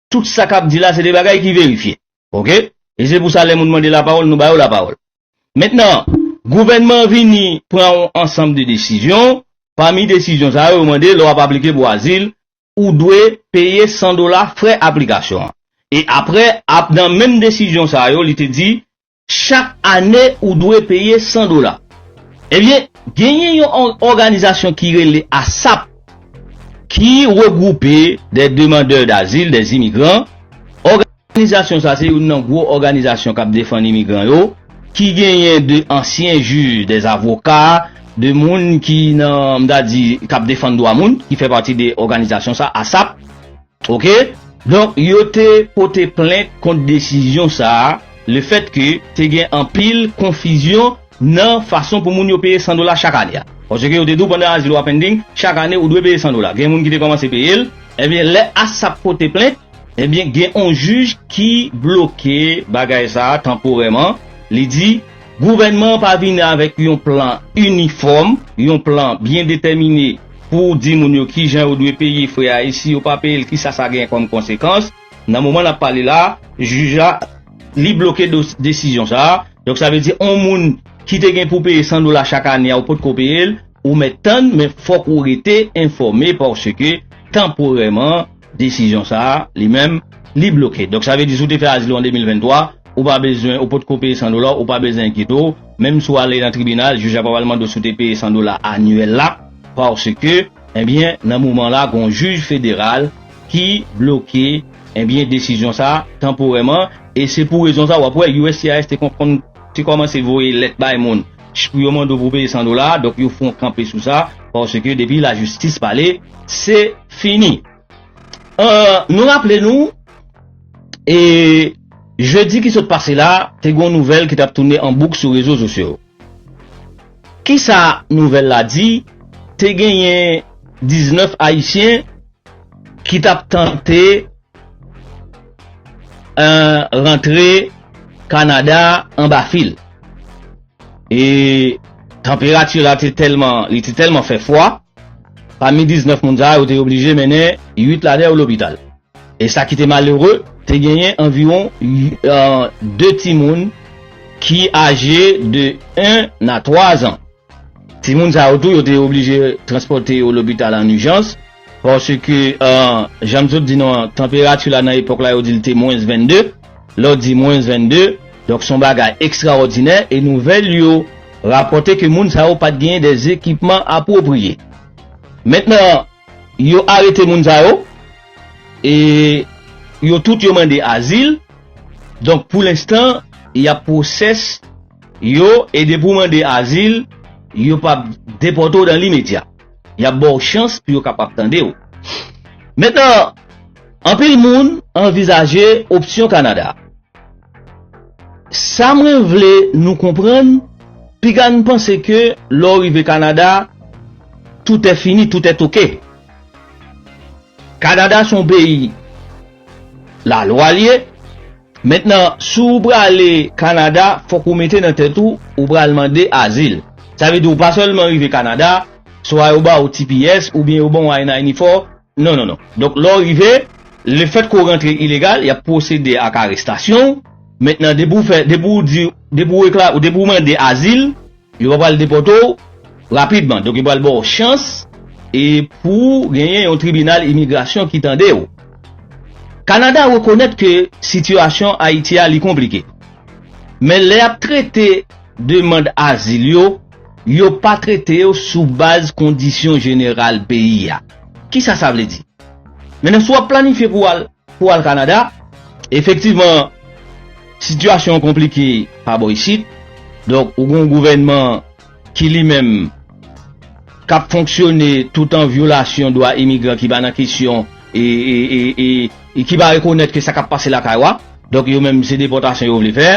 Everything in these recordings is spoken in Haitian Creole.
Tout sa kap di la se de bagay ki verifye. Ok. E se pou sa lè moun mande la pawòl nou ba yo la pawòl. Mentnan, gouvènman an vini pran yon ansanm de desizyon, pami desizyon sa yo, yo mande lè w ap aplike pou azil, ou dwe peye 100 dola frè aplikasyon an. E aprè, ap nan menm desizyon sa yo, li te di, Chak ane ou dwe peye 100 dola. Ebyen, genyen yon òganizasyon ki rele ASAP ki regwoupe des demandeurs d'asile, des immigrants. Òganizasyon sa se youn nan gwo òganizasyon k ap defann imigran yo, ki genyen de ansyen jij, de avoka, de moun ki nan, m ta di, k ap defann dwa moun, ki fè pati de òganizasyon sa, ASAP. Ok. Donk yo te pote plent kont desizyon sa a lefèt ke te gen anpil konfizyon nan fason pou moun yo peye 100 dola chak ane a. Paske yo te di w pandan azil ou a pending, chak ane ou dwe peye 100 dola. Gen moun ki te kòmanse peye l. Ebyen lè ASAP pote plent, ebyen gen on jij ki bloke bagay sa a tanporèman, li di Gouvènman an pa vini avèk yon plan inifòm, yon plan byen detèmine pou di moun yo kijan yo dwe peye frè a e si yo pa peye l kisa sa genyen kòm konsekans. Nan moman n ap pale la a, jij la li bloke desizyon sa a. Donk sa vle di yon moun ki te gen pou peye 100 dola chak ane a ou potko peye l, ou mèt tann men fòk ou rete enfòme paske tanporèman, Desizyon sa a, li menm, li bloke. Donk sa vle di si w te fè azil ou an 2023, ou pa bezwen, ou pot ko peye 100 dola, ou pa bezwen enkyete w, menm si w ale nan tribinal, jij la pa pral mande w si w te peye 100 dola anyèl la, paske, enbyen, nan moman la gen yon jij federal ki bloke, enbyen, desizyon sa a tanporèman e se pou rezon sa a w ap wè uscis te konn te kòmanse voye lèt bay moun. Jpou yo mande w pou peye 100 dola donk yo fon kanpe sou sa paske depi la jistis pale se fini euh nou raple nou e jedi ki sot pase la te gon nouvèl ki tap toune an bouk sou rezo sosyo kisa nouvèl la di te genyen 19 ayisyen ki tap tante rantre Kanada anba fil. E tanperati la te tèlman, li te tèlman fè fwa, pami 19 moun sa yo te oblije mennen 8 ladan yo lopital. E sa ki te malere, te genyen anviwon 2 timoun ki aje de 1 a 3 zan. Timoun sa yo tou yo te oblije transpòte yo lopital an ijans paske jan m sot di nou an tanperati la nan epòk la yo di l te mwens 22, lòt di mwens 22, donk s on bagay ekstraòdinè e nouvèl yo rapòte ke moun sa yo pa t genyen de ekipman apwopriye. Mentnan yo arete moun sa yo e yo tout yo mande azil donk pou lenstan y ap pwosès. Yo e depi w mande azil, yo p ap depòte w dan limedya. Y ap ba w chans pou yo kapab tande w. Mentnan, anpil moun anvizaje opsyon Kanada. Sa mwen vle nou konprann, piga n panse ke lè w rive Kanada, tout è fini, tout è toke. Kanada se yon peyi lalwa l ye. Mentnan, si w prale Kanada, fòk ou mete nan tèt ou, ou pral mande azil. Sa vle di ou pa sèlman rive Kanada, swa yo ba ou tps oubyen yo ban w I-94, non non non. Donk lè w rive, lefèt ke w rantre ilegal, y ap pwosede ak arestasyon w. Mentnan depi w fè, depi w di, depi w depi w mande azil, Yo pa pral depòte w rapidman, donk yo pral ba w chans e pou w genyen yon tribinal imigrasyon ki tande w. Kanada rekonèt ke sitiyasyon Ayiti a li konplike, men lè y ap trete demand azil yo, yo pa trete yo sou baz kondisyon jeneral peyi a. Kisa sa vle di? Mennen si w ap planifye pou w al. Pou al Kanada, efektivman, sitiyasyon an konplike pa bò isit. Donk, ou gen yon gouvènman ki li menm k ap fonksyone tout an vyolasyon dwa imigran ki pa nan kesyon e ki pa rekonèt ke sa k ap pase lakay ou a. Donk, yo menm se depòtasyon yo vle fè.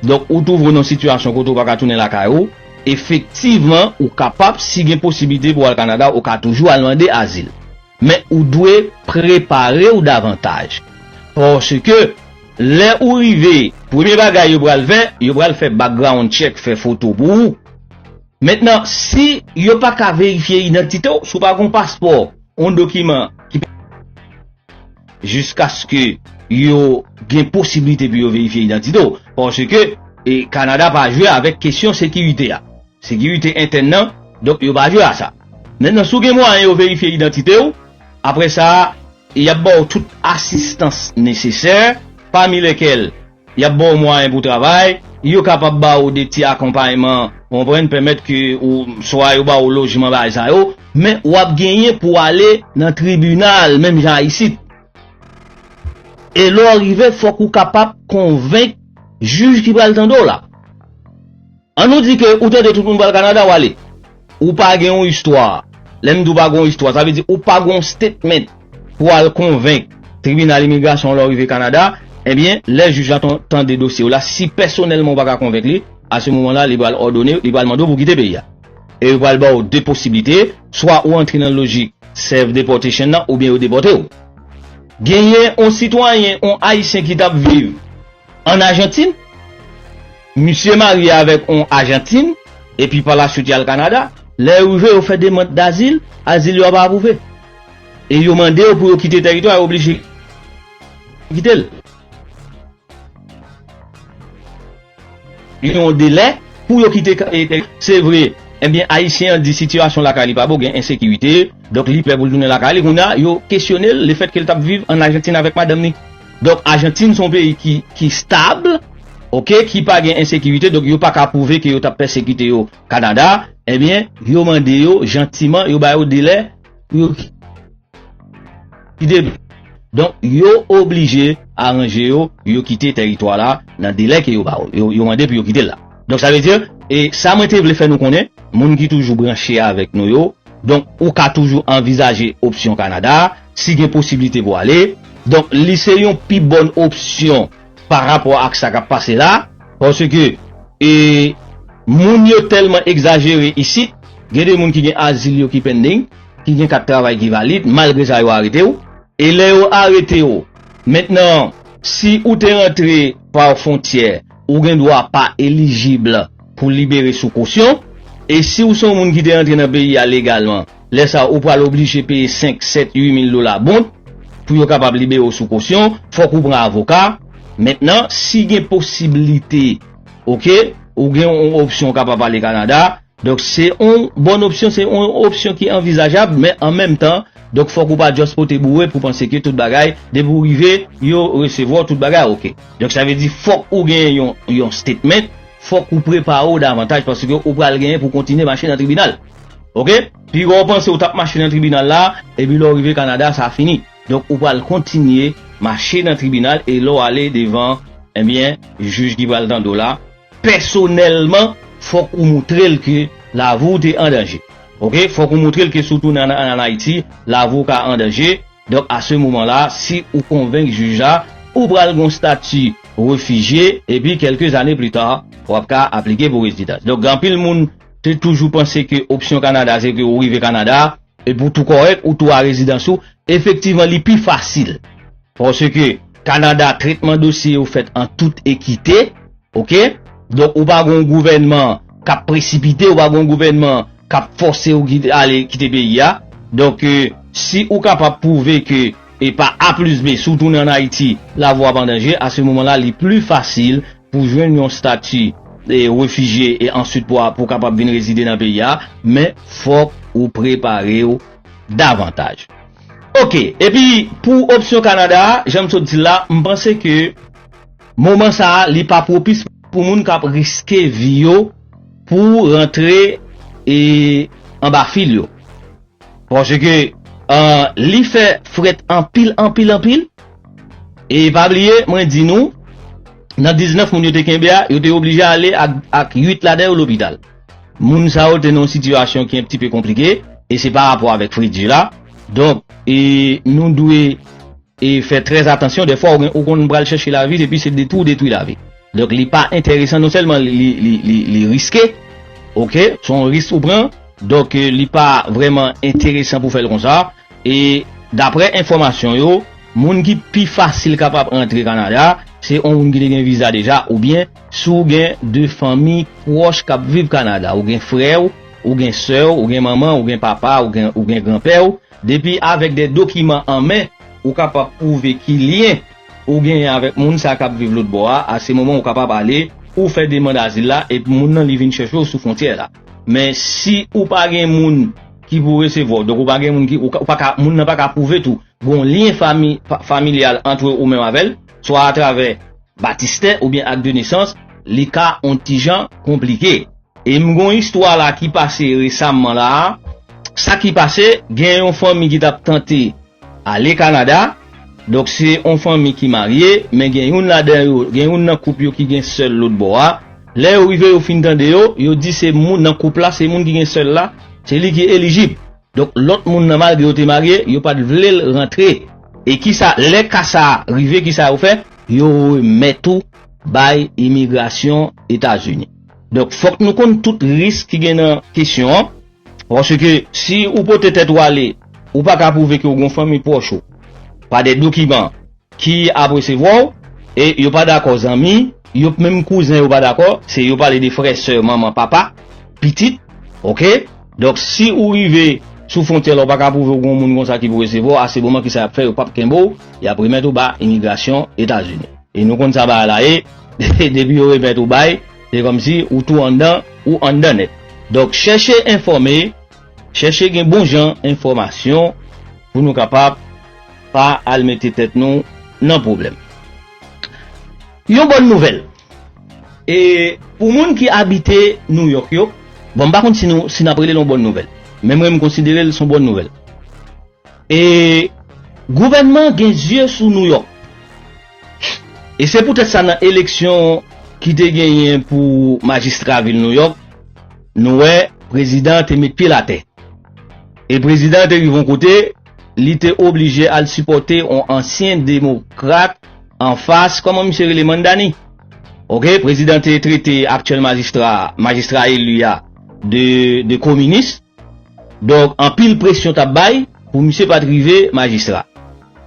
Donk, ou twouve w nan yon sitiyasyon kote ou pa ka tounen lakay ou. Efektivman, ou kapab, si gen posiblite pou w al Kanada, ou ka toujou al mande azil. Men ou dwe prepare w davantaj. Paske, lè ou rive, premye bagay yo pral fè, yo pral fè background check, fè foto pou ou. Mentnan, si yo pa ka verifye idantite w, si w pa gen yon paspò, yon dokiman ki. Jiskaske yo gen posiblite pou yo verifye idantite w. Paske, Kanada pa jwe avèk kesyon sekirite a. Sekirite entèn nan, donk yo pa jwe a sa. Mentnan si w gen mwayen yo verifye idantite w, apre sa y ap ba w tout asistans nesesè, pami lèkèl y ap ba w mwayen pou w travay, yo kapab ba w de ti akonpayman, ou konprann, pèmèt ke w swa yo ba w lojman bagay sa yo, men w ap genyen pou w ale nan tribinal menm jan a isit. E lè w rive fòk ou kapab konvenk jij ki pral tande w la. An nou di ke ou tande tout moun pral Canada wale. Ou pa gen yon istwa. Lèm di ou pa gen yon istwa sa vle di ou pa gen yon statement pou al konvenk tribinal imigrasyon lè ou rive Canada, ebyen lè jij la tande dosye ou la si pèsonèlman ou pa ka konvenk li, a se moman la li pral òdone, li pral mande ou pou kite peyi a. E yo pral baw 2 posiblite, swa ou antre nan lojik self deportation nan oubyen yo depòte ou. Genyen yon sitwayen, yon ayisyen ki tap viv. An Ajantin, misye marye avèk on Ajantin epi pa la suit y al Kanada. Lè yo rive, yo fè demand dazil, azil yo a pa apwouve. E yo mande yo pou yo kite tèritwa a, yo oblije kite l. Gen yon delè pou yo kite tèritwa a. Se vre, ebyen Ayisyen an di sitiyasyon lakay li pa bon, gen ensekirite, donk li pè pou l tounen lakay li. Kounye a, yo kesyone l lefètke l t ap viv an Ajantin avèk madanm li. Donk Argentine son peyi ki ki stab ok ki pa gen ensekirite donk yo paka pwouve ke yo tap pèsekite yo Canada ebyen yo mande yo jantiman yo ba yo delè pou yo kite donk yo oblije aranje yo pou yo kite tèritwa la nan delè ke yo ba yo yo mande pou yo kite la donk sa vle di e sa mwen te vle fè nou konnen moun ki toujou branche avèk nou yo donk ou ka toujou anvizaje opsyon Canada. Si gen posiblite pou ale, donk li se yon pi bòn opsyon pa rapò ak sa k ap pase la, paske e moun yo tèlman egzajere isit, gen de moun ki gen azil yo ki pending, ki gen kat travay ki valid, malgre sa yo arete w, e lè yo arete w, mentnan si ou te rantre pa fontyè, ou gen dwa pa elijib pou libere sou kosyon, e si w se yon moun ki te rantre nan peyi a legalman, Lè sa a, ou pral oblije peye senk, sèt, ui mil dola bond pou yo kapab libere w sou kosyon. Fòk ou pran avoka. Mentnan, si gen posiblite, ok, ou gen yon opsyon ou kapab ale Kanada. Donk, se yon bon opsyon, se yon opsyon ki anvizajab, men an menm tan, donk fòk ou pa just pote boure pou panse ke tout bagay, depi ou rive, yo resevwa w, tout bagay ok. Donk, sa vle di fòk ou gen yon statement, fòk ou prepare w davantaj paske ou pral genyen pou kontinye mache nan tribinal. ok pi wè ou panse ou tap mache nan tribinal la epi lè ou rive Canada sa fini donk ou pral kontinye mache nan tribinal e lè ou ale devan ebyen jij ki pral tande w la pèsonèlman fòk ou moutre l ke lavi w te an danje ok fòk ou moutre l ke si w tounen an an Ayiti lavi w ka an danje donk a se moman la si ou konvenk jij la ou pral gon stati refijye epi kèlke zane pli ta wap ka aplike pou rezidans donk gen anpil moun. Te toujou panse ke opsyon Kanada se ke ou rive Kanada epi ou tou kòrèk, ou tou a rezidans ou. Efektivman li pi fasil paske Kanada tretman dosye yo fèt an tout ekite ok. Donk ou pa gen yon gouvènman k ap presipite, ou pa gen yon gouvènman k ap fòse ou ale kite peyi a. Donk si ou kapab pwouve ke e pa A plis B si w tounen an Ayiti lavi w ap an danje, a se moman la li pli fasil pou jwenn yon stati refijye e answit pou a pou kapab vin rezide nan peyi a, men fòk ou prepare w davantaj. Ok, epi pou opsyon Kanada a, jan m sot di l la, m panse ke moman sa a li pa pwopis pou moun k ap riske vi yo pou rantre anba fil yo. Paske li fè frèt anpil, anpil, anpil. E pa bliye, mwen di nou, nan 19 moun yo te kenbe a, yo te oblije ale ak 8 ladan yo lopital. Moun sa yo te nan yon sitiyasyon ki enptipe konplike, e se pa rapò avèk fredi la. Donk, nou dwe. E fè trè atansyon dèfwa ou konn pral chèche lavi epi se detwi ou detwi lavi. Donk li pa enteresan non sèlman li riske ok se yon risk ou pran donk li pa vrèman enteresan pou fèl konsa e daprè enfòmasyon yo moun ki pi fasil kapab antre Kanada se yon moun ki te gen viza deja oubyen si w gen de fanmi pwòch kap viv Kanada ou gen frè w ou gen sè w ou gen manman w ou gen papa w ou gen gran pè w Depi avèk de dokiman an men, ou kapab pwouve ki lyen ou genyen avèk moun sa kap viv lotbò a, a se moman ou kapab ale ou fè demand azil la epi moun nan li vin chèche w sou fwontyè la. Men si ou pa gen moun ki pou resevwa w, donk ou pa gen moun ki, ou pa ka, moun nan pa ka pwouve tou gon lyen fami, familyal antre ou menm avèl, swa atravè batistè oubyen ak de nesans, li ka on ti jan konplike. E m gon istwa la ki pase resamman la a, sa ki pase gen yon fanmi ki tap tante ale Canada, donk se yon fanmi ki marye men gen youn ladan yo, gen youn nan koup yo ki gen sèl lòt bò a, lè yo rive yo fin tande yo, yo di se moun nan koup la, se moun ki gen sèl la, se li ki elijib. Donk lòt moun nan malgre yo te marye, yo pat vle l rantre. E kisa, lè ka sa a rive kisa yo fè, yo remèt ou bay imigrasyon Etazini. Donk fòk nou konn tout risk ki gen nan kesyon an, paske si ou pote tèt ou ale, ou pa ka pwouve ke ou gen yon fanmi pwòch ou pa de dokiman ki ap resevwa w, e yo pa dakò zanmi, yo p menm kouzen yo pa dakò, se yo pale de frè, sè, manman, papa, pitit, ok, donk si ou rive sou fwontyè la ou pa ka pwouve ou gen yon moun konsa ki pou resevwa w, a se moman kisa y ap fè, yo p ap kenbe w, y ap remèt ou ba imigrasyon Etazini. E nou konn sa bagay la ye. Depi yo remèt ou bay, se kòmsi ou tou anndan, ou anndan nèt. Donk chèche enfòme, chèche gen bon jan enfòmasyon pou nou kapab pa al mete tèt nou nan pwoblèm. Yon bòn nouvèl e pou moun ki abite Nouyòk yo, bon m pa konn si nou si n ap rele l yon bòn nouvèl, men mwen m konsidere l s on bòn nouvèl. E gouvènman gen zye sou Nouyòk. E se poutèt sa nan eleksyon ki te genyen pou majistra vil Nouyòk, nou wè prezidan an te met pye l atè. E prezidan an te rive yon kote, li te oblije al sipòte yon ansyen demokrat anfas, kòman misye rele, Mamdani? Oke, prezidan te trete aktyèl majistra a, majistra eli a, de kominis. Donk anpil presyon t ap bay pou misye pa t rive majistra.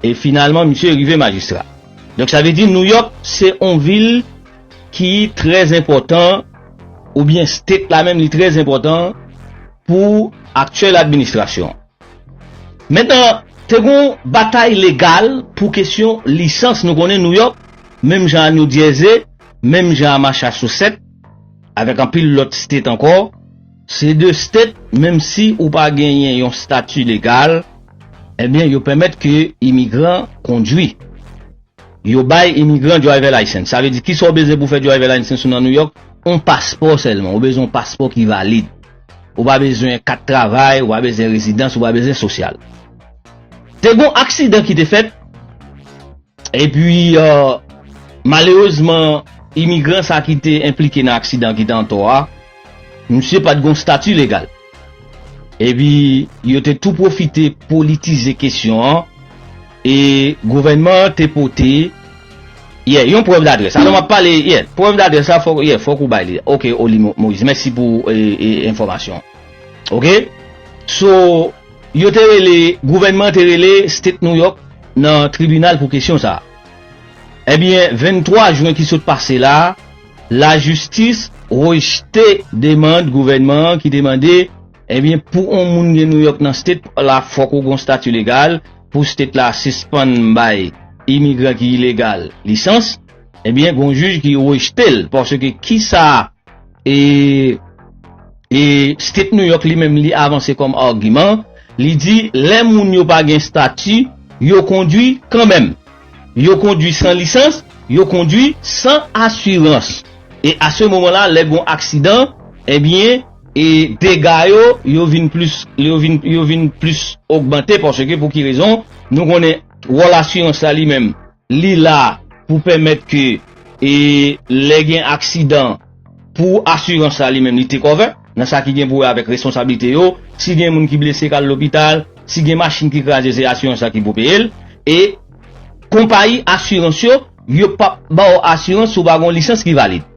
E finalman misye rive majistra. Donk sa vle di Nouyòk se on vil ki trè enpòtan oubyen state la menm li trè enpòtan pou aktyèl administrasyon an. Mentnan te gon batay legal pou kesyon lisans nou konnen Nouyòk menm jan a New Jersey, menm jan a Machasosèt avèk anpil lòt state ankò, Se de stet menm si ou pa genyen yon stati legal ebyen yo pèmèt ke imigran kondwi. Yo bay imigran driver license. Sa vle di kisa ou bezwen pou fè driver license ou nan New York? On paspò sèlman. Ou bezwen on paspò ki valid. Ou pa bezwen kat travay, ou pa bezwen rezidans, ou pa bezwen sosyal. Te gon aksidan ki te fèt Epi, malerezman, imigran sa ki te enplike nan aksidan ki te antò a, misye pa t gen yon stati legal. Epi, yo te tou pwofite politize kesyon an e gouvènman an te pote, ye, yon prèv d'adrès. Alò, m ap pale, ye, prèv d'adrès la fòk, ye, fòk ou bay li. Oke, Oli Moyiz, mèsi pou enfòmasyon an. Oke. So, yo te rele, gouvènman an te rele State New York. nan tribinal pou kesyon sa a. Ebyen 23 jwen ki sot pase la, lajistis rejte demand gouvènman an ki te mande ebyen pou on moun gen Nouyòk nan state la fòk ou gon stati legal pou state la sispann bay imigran ki ilegal lisans, ebyen gon jij ki rejte l paske kisa E E State New York li menm li avanse kòm agiman, li di lè moun yo pa gen stati, yo kondwi kanmenm. Yo kondwi san lisans, yo kondwi san asirans. E a se moman la lè gon aksidan, ebyen e dega yo, yo vin plis, yo vin, yo vin plis ogmante paske pou ki rezon? Nou konnen wòl asirans la li menm. Li la pou pèmèt ke e lè gen aksidan pou asirans la li menm li take over nan sa ki gen pou wè avèk responsabilite yo, si gen moun ki blese kal lopital, si gen machin ki kraze se asirans la ki pou peye l, e konpayi asirans yo yo pap baw asirans si w pa gen yon lisans ki valid.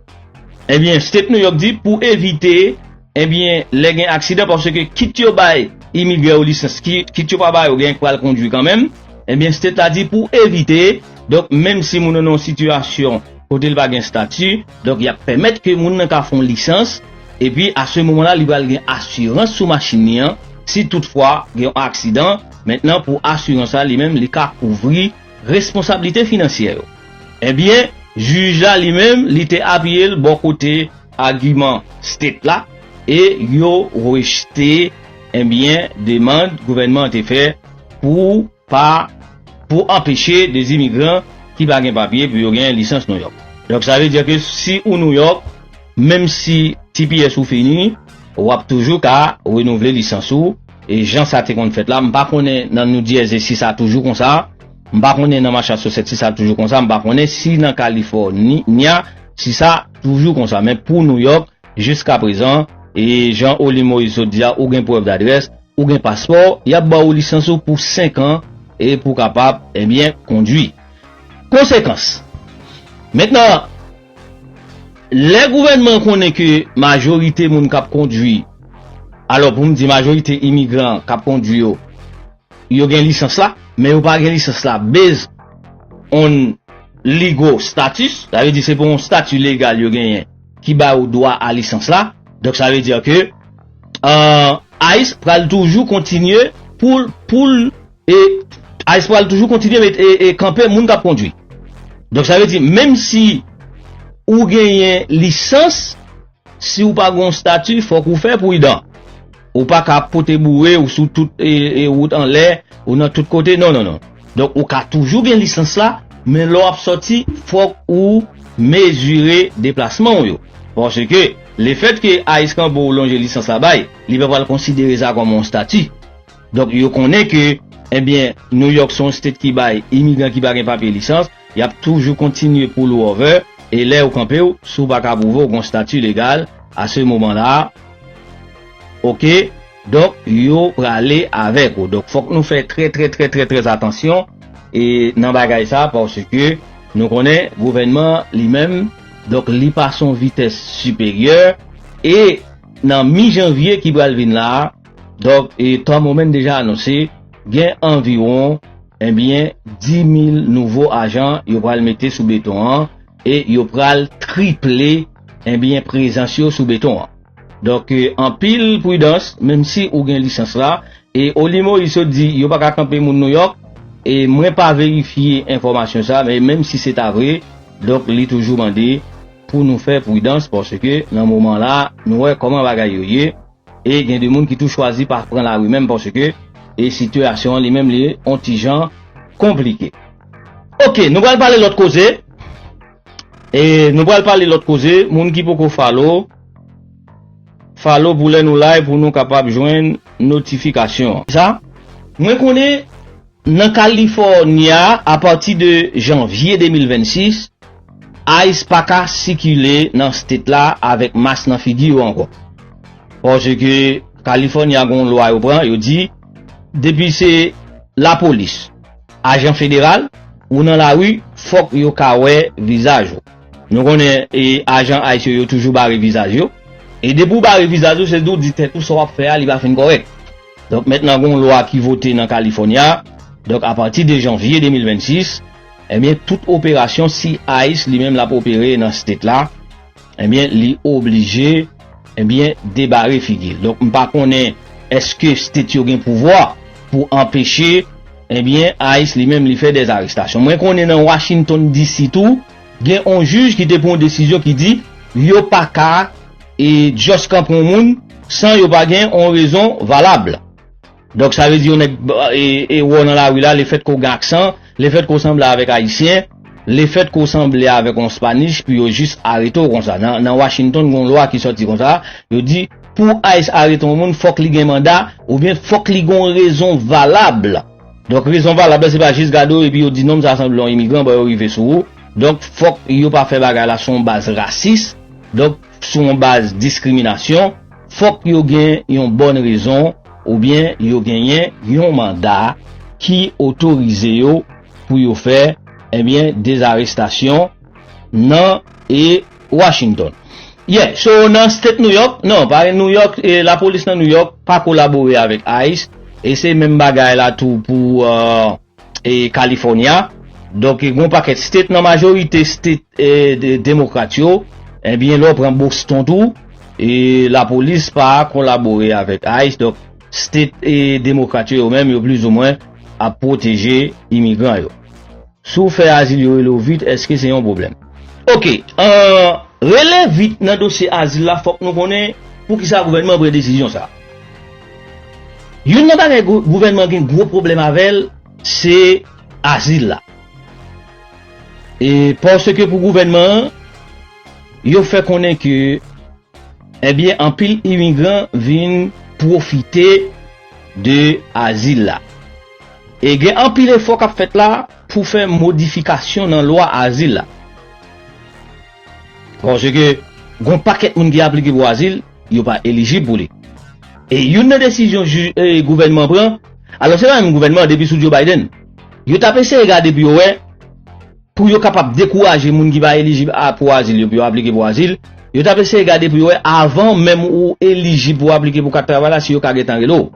Ebyen State New York di pou evite ebyen lè gen aksidan paske kit yo bay imigran yo lisans kit yo pa ba yo gen k pral kondwi kanmenm ebyen State la di pou evite donk menm si moun nan nan yon sitiyasyon kote l pa gen stati donk y ap pèmèt ke moun nan ka fon lisans epi a se moman la li pral gen asirans sou machin li an si tout fwa gen yon aksidan mentnan pou asirans la li menm li ka kouvri Responsablite finansyè yo. Ebyen, jij la li menm li te apiye l bò kote agiman State la e yo rejte ebyen demand gouvènman an te fè pou pa pou anpeche de imigran ki pa gen papye pou yo gen lisans Nouyòk. Donk sa vle di ke si ou Nouyòk, menm si tps ou fini, w ap toujou ka renouvle lisans ou e jan sa te konn fèt la, m pa konnen nan Noudyèze si sa toujou konsa, m pa konnen nan Machasosèt si sa toujou konsa, m pa konnen si nan Kalifò ni nya si sa toujou konsa men pou Nouyòk jiska prezan e jan Oli Moyiz sot di a ou gen prèv dadrès, ou gen paspò, y ap ba ou lisans ou pou 5 an e pou kapab, ebyen, kondwi. Konsekans! Mentnan. Lè gouvènman an konnen ke majorite moun k ap kondwi, alò pou m di majorite imigran k ap kondwi yo, yo gen lisans la, men yo pa gen lisans la based on legal status, sa vle di se pou yon stati legal yo genyen ki ba yo dwa a lisans la, donk sa vle di ke ice pral toujou kontinye pou l. E ice pral toujou kontinye met e kanpe moun kap kondwi. Donk sa vle di menm si ou genyen lisans, si ou pa gen yon stati fòk ou fè prudan. Ou pa ka ap pote boure, ou sou tout e wout anlè, ou nan tout kote, non non non. Donk ou ka toujou gen lisans la, men lè w ap sòti fòk ou mezire deplasman ou yo. Paske lefèt ke ice kanpe w lonje lisans la bay, li pa pral konsidere sa kòm yon stati. Donk yo konnen ke ebyen New York se yon state ki bay imigran ki pa gen papye lisans, yap toujou kontinye poul over e lè yo kanpew si w paka pwouve w gon stati legal a se moman la ok donk yo prale avèk ou donk fòk nou fè trè trè trè trè trè atansyon e nan bagay sa paske nou konnen gouvènman li menm donk li pase yon vitès siperyè e nan mi janvye ki pral vin la. Dòk e Tom Homan deja anonse gen anviwon ebyen 10,000 nouvo ajan yo pral mete sou beton an e yo pral triple ebyen prezans yo sou beton an. Dòk e anpil pridans menm si ou gen lisans la e Oli Moyiz sot di yo pa ka kanpe moun Nouyòk e mwen pa verifye enfòmasyon sa men menm si se ta vre dòk li toujou mande pou nou fè pridans paske nan moman la nou wè kòman bagay yo ye. E gen de moun ki tou chwazi pa pran lari menm paske e sitiyasyon an li menm li on ti jan konplike. Ok nou pral pale lòt koze e nou pral pale lòt koze moun ki poko falo falo pou lè nou live pou nou kapab jwenn notifikasyon. Sa mwen konnen Nan California, a pati de Janvye 2026, ice pa ka sikile nan state la avèk mask nan figi yo ankò. Paske California gen yon lwa yo pran, yo di, depi se lapolis, ajan federal, ou nan lari, fòk yo ka wè vizaj ou. Nou konnen ajan ice yo, yo toujou bare vizaj yo. E depi ou bare vizaj ou, se di ou di tèt ou sa w ap fè a li pa fin kòrèk. Donk mentnan gon lwa ki vote nan California, donk a pati 2 janvye 2026, ebyen tout operasyon si ice li menm lap opere nan state la, ebyen li oblije ebyen debare figil. Donk m pa konnen eske state yo gen pouvwa pou anpeche ebyen ice li menm li fè dè arestasyon. Mwen konnen nan Washington DC tou, Gen on jij ki te pran yon desizyon ki di yo pa ka just kanpe yon moun san yo pa gen yon rezon valab. Donk sa vle di yon nèg wè w nan lari la, le fèt ke w gen aksan, le fèt ke w sanble avèk Ayisyen, le fèt ke w sanble avèk yon Spanish pou yo jis arete w konsa. Nan Washington gen yon lwa ki sòti konsa, yo di pou ice arete yon moun fòk li gen manda oubyen fòk li gen yon rezon valab. Donk rezon valab la se pa jis gade w epi yo di nonm sa sanble yon imigran bon yo rive sou ou. Donk fòk yo pa fè bagay la sou yon baz rasis, donk sou yon baz diskriminasyon, fòk yo gen yon bòn rezon oubyen yo genyen yon manda ki otorize yo pou yo fè, ebyen dezarestasyon nan e. Washington. Yè so nan state New York, non pa gen New York, la polis nan New York pa kolabore avèk ice e se menm bagay la tou pou e California donk gen yon pakèt state nan majorite state e demokrat yo ebyen lè w pran Boston tou e la polis pa kolabore avèk ice donk state e demokrat yo yo menm yo plizoumwen ap pwoteje imigran yo. Si w fè azil yo rele w vit eske se yon pwoblèm? Ok ahh rele vit nan dosye azil la fòk nou konnen poukisa gouvènman pran desizyon sa. Youn nan bagay gouvènman gen gwo pwoblèm avè l se azil la. E paske pou gouvènman an yo fè konnen ke ebyen anpil imigran vin pwofite de azil la. E gen anpil efò k ap fèt la pou fè modifikasyon nan lwa azil la. Paske gon pakèt moun ki aplike pou azil, yo pa elijib pou li. E youn nan desizyon gouvènman pran, alò se pa menm gouvènman an depi sou Joe Biden, yo t ap eseye gade pou yo wè, Pou yo kapab dekouraje moun ki pa elijib pou azil yo pou yo aplike pou azil, yo t ap eseye gade pou yo wè avan menm ou elijib pou w aplike pou kat travay la si yo ka gentan rele w.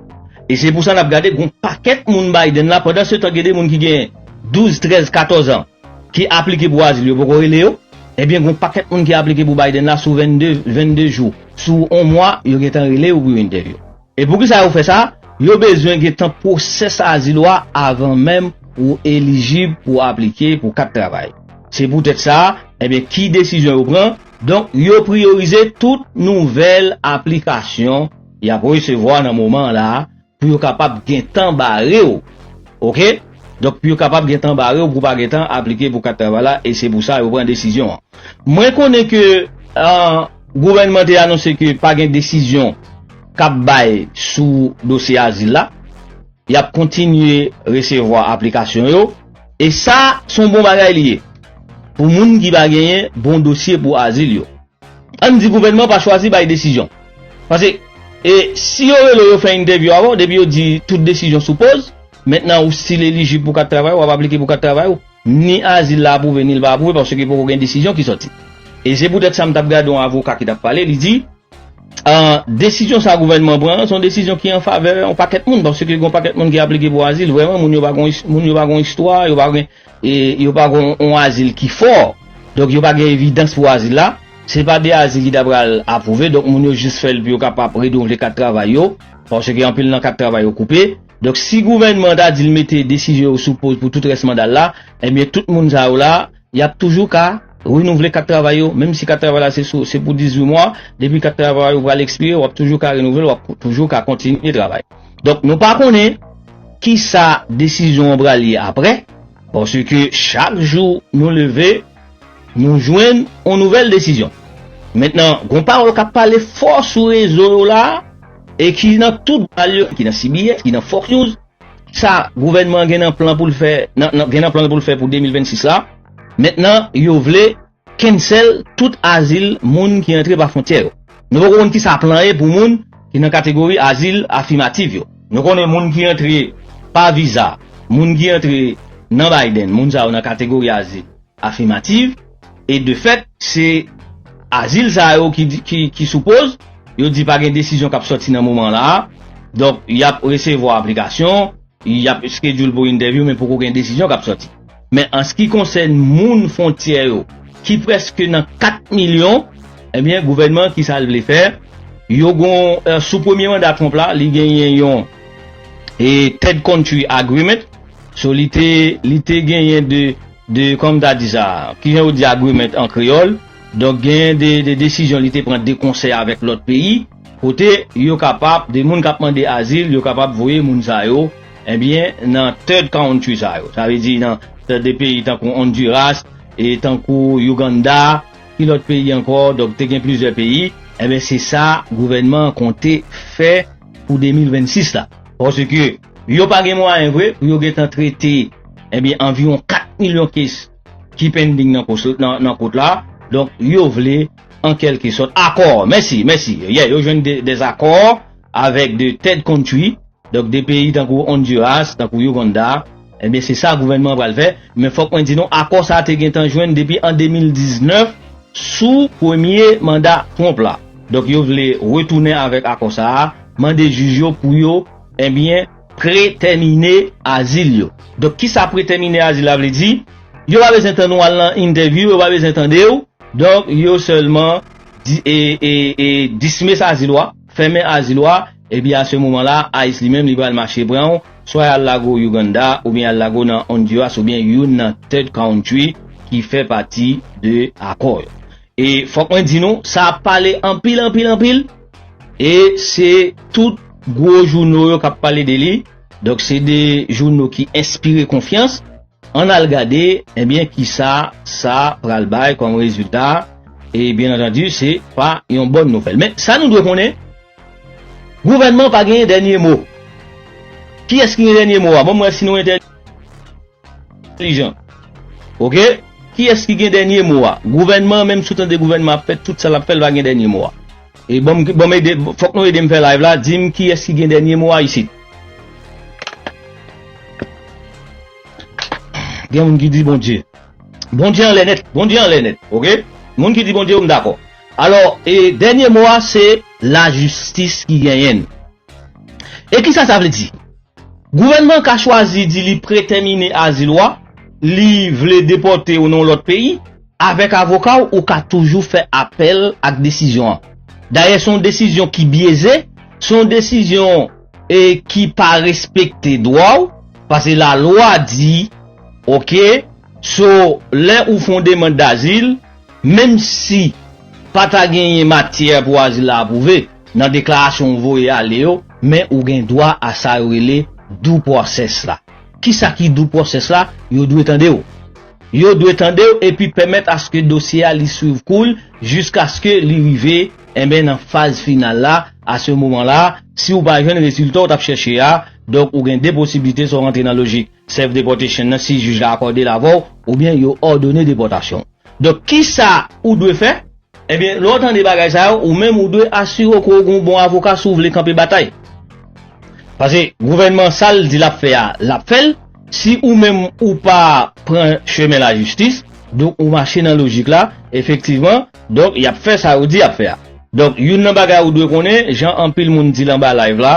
E se pou sa n ap gade gen yon pakèt moun Biden la pandansetan gen de moun ki gen 12, 13, 14 an ki aplike pou azil yo poko rele yo, ebyen gen yon pakèt moun ki aplike pou Biden la sou 22 jou, sou yon mwa yo gentan rele yo pou yon entèvyou. E poukisa yo fè sa? Yo bezwen gentan pwosès azil ou a avan menm ou elijib pou aplike pou kat travay. Se poutèt sa, enben ki desizyon yo pran? Donk yo priyorize tout nouvèl aplikasyon y ap resevwa nan moman an la pou yo kapab gentan bare w. Oke. Donk pou yo kapab gentan bare w pou w pa gentan aplike pou kat travay la e se pou sa yo pran desizyon an. Mwen konnen ke. Gouvènman te anonse ke pa gen desizyon k ap bay sou dosye azil la. Y ap kontinye resevwa aplikasyon yo, e sa se yon bon bagay li ye pou moun ki pa genyen bon dosye pou azil yo. Ann di gouvènman pa chwazi bay desizyon. Pase, e si yo rele w yo fè entèvyou avè w, depi yo di tout desizyon sou poz, mentnan ou stil elijib pou kat travay, w ap aplike pou kat travay ou. Ni azil la apwouve ni l pa apwouve paske poko gen desizyon ki sòti. E se poutèt sa m t ap gade yon avoka ki t ap pale, li di, An, desizyon sa gouvènman an pran an, se yon desizyon ki an favè yon pakèt moun paske gen yon pakèt moun ki aplike pou azil, vrèman moun yo pa gen moun yo pa gen yon istwa, yo pa gen e yo pa gen yon azil ki fò, donk yo pa gen evidans pou azil la, se pa de azil ki ta pral apwouve, donk moun yo jis fè l pou yo kapab redouvle kat travay yo paske anpil nan kat travay yo koupe. Donk si gouvènman an ta di l mete desizyon yo sou poz pou tout rès manda l la, ebyen tout moun sa yo la, y ap toujou ka renouvle kat travay yo, menm si kat travay la se sou se pou 18 mwa, depi kat travay ou pral ekspire, w ap toujou ka renouvle l, w ap toujou ka kontinye travay. Donk nou pa konnen kisa desizyon an pral ye aprè, paske chak jou nou leve, Nou jwenn yon nouvèl desizyon. Mentnan gon pawòl kap pale fò sou rezo yo la e ki nan tout bal yo, ki nan CBS, ki nan Fox News, sa gouvènman an gen nan plan poul fè gen nan plan l poul fè pou 2026 la, mentnan yo vle cancel tout azil moun ki antre pa fwontyè yo. Nou poko konn kisa plan ye pou moun ki nan kategori azil afimativ yo. Nou konnen moun ki antre pa viza, moun ki antre nan Biden, moun sa yo nan kategori azil afimativ, e de fèt, se azil sa yo ki sou poz, yo di pa gen desizyon k ap sòti nan moman la a, donk y ap resevwa aplikasyon, Y ap schedule pou entèvyou men poko gen desizyon k ap sòti. Men an s ki konsèn moun fontyè yo ki prèske nan 4 milyon, ebyen gouvènman an ki sa l vle fè? Yo gon sou premye manda Trump la li genyen yon third country agreement so li te li te genyen de de kòman m ta di sa ki jan yo di agreement an kreyòl donk genyen de desizyon li te pran de konsè avèk lòt peyi. Kote yo kapab, de moun kap mande azil, yo kapab voye moun sa yo, ebyen nan third country sa yo. Sa vle di nan de peyi tankou Honduras, e tankou Uganda, ki lòt peyi ankò, donk te gen plizyè peyi, ebyen se sa gouvènman an konte fè pou 2026 la. Paske yo pa gen mwayen vre pou yo gentan trete ebyen anviwon 4 milyon kes. ki pending nan kous nan kout la donk yo vle an kelke sòt akò mèsi mèsi yè yo jwenn des akò avèk de third country donk de peyi tankou Honduras tankou Uganda ebyen se sa gouvènman an pral fè men fòk mwen di nou akò sa te gentan jwenn depi an 2019 sou premye manda Trump la donk yo vle retounen avèk akò sa mande jij yo pou yo ebyen. Pretèmine azil yo. Donk kisa pretèmine azil la vle di? Yo pa bezwen tann ou al nan entèvyou, yo pa bezwen tande w, donk yo sèlman dismiss azil ou a, fèmen azil ou a, epi a se moman la ice li menm li pral mache pran w, swa y al lage w Uganda oubyen y al lage w nan Honduras oubyen youn nan third country ki fè pati de akò yo. E fòk mwen di nou, sa ap pale anpil anpil anpil, e se tout gwo jouno yo k ap pale de li, donk se de jouno ki enspire konfyans, ann al gade ebyen kisa sa pral bay kòm rezilta, e byen antandi se pa yon bòn nouvèl. Men sa nou dwe konnen, gouvènman pa gen dènye mo. Kiyès ki gen dènye mo a? Bon m wè si nou entèli. entelijan ok kiyès ki gen dènye mo a gouvènman an menm sou tande gouvènman ap fè tout sa lap fè l pa gen dènye mo a e banm banm ede fòk nou edem fè live la dim kiyès ki gen dènye mo a isit gen moun ki di bondye bondye anlè nèt bondye anlè nèt ok moun ki di bondye yo m dakò alò e dènye mo a se lajistis ki genyen l e kisa sa vle di. Gouvènman an ka chwazi di li pretèmine azil ou a, li vle depòte ou nan yon lòt peyi. Avèk avoka w, ou ka toujou fè apèl ak desizyon an. Dayè, se yon desizyon ki byeze, se yon desizyon ki pa respekte dwa w, pase lalwa di, ok, so lè ou fè yon demand dazil, Menm si pa ta genyen matyè pou azil la apwouve, nan deklarasyon ou voye ale yo, men ou gen dwa a sa yo rele due process la. Kisa ki due process la? Yo dwe tande w. Yo dwe tande w epi pèmèt aske dosye a li swiv kou l jiskaske li rive enben nan faz final la, a se moman la, si ou pa jwenn rezilta ou t ap chèche a, donk ou gen 2 posiblite sa w rantre nan lojik Serve deportation nan si jij la akòde l avè w oubyen yo òdone depòtasyon w. Donk kisa ou dwe fè? Ebyen lè w tande bagay sa yo, ou menm ou dwe asire w ke w gen yon bon avoka si w vle kanpe batay. Pase gouvènman sa l di l ap fè a, l ap fè l. Si ou menm ou pa pran chemen lajistis, donk ou mache nan lojik la, efektivman, Donk yap fè sa yo di yap fè a. Donk youn nan bagay ou dwe konnen, jan anpil moun di l anba live la,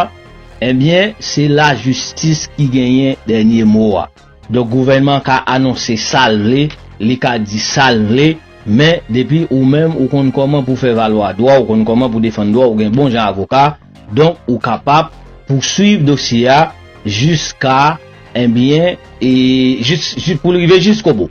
ebyen se lajistis ki genyen dènye mo a. Donk gouvènman an ka anonse sa l vle, li ka di sa l vle, men depi ou menm ou konn kòman pou fè valwa dwa, ou konn kòman pou defann dwa, ou gen bon jan avoka, donk ou kapab pouswiv dosye a jiska, ebyen, pou l rive jiskobou.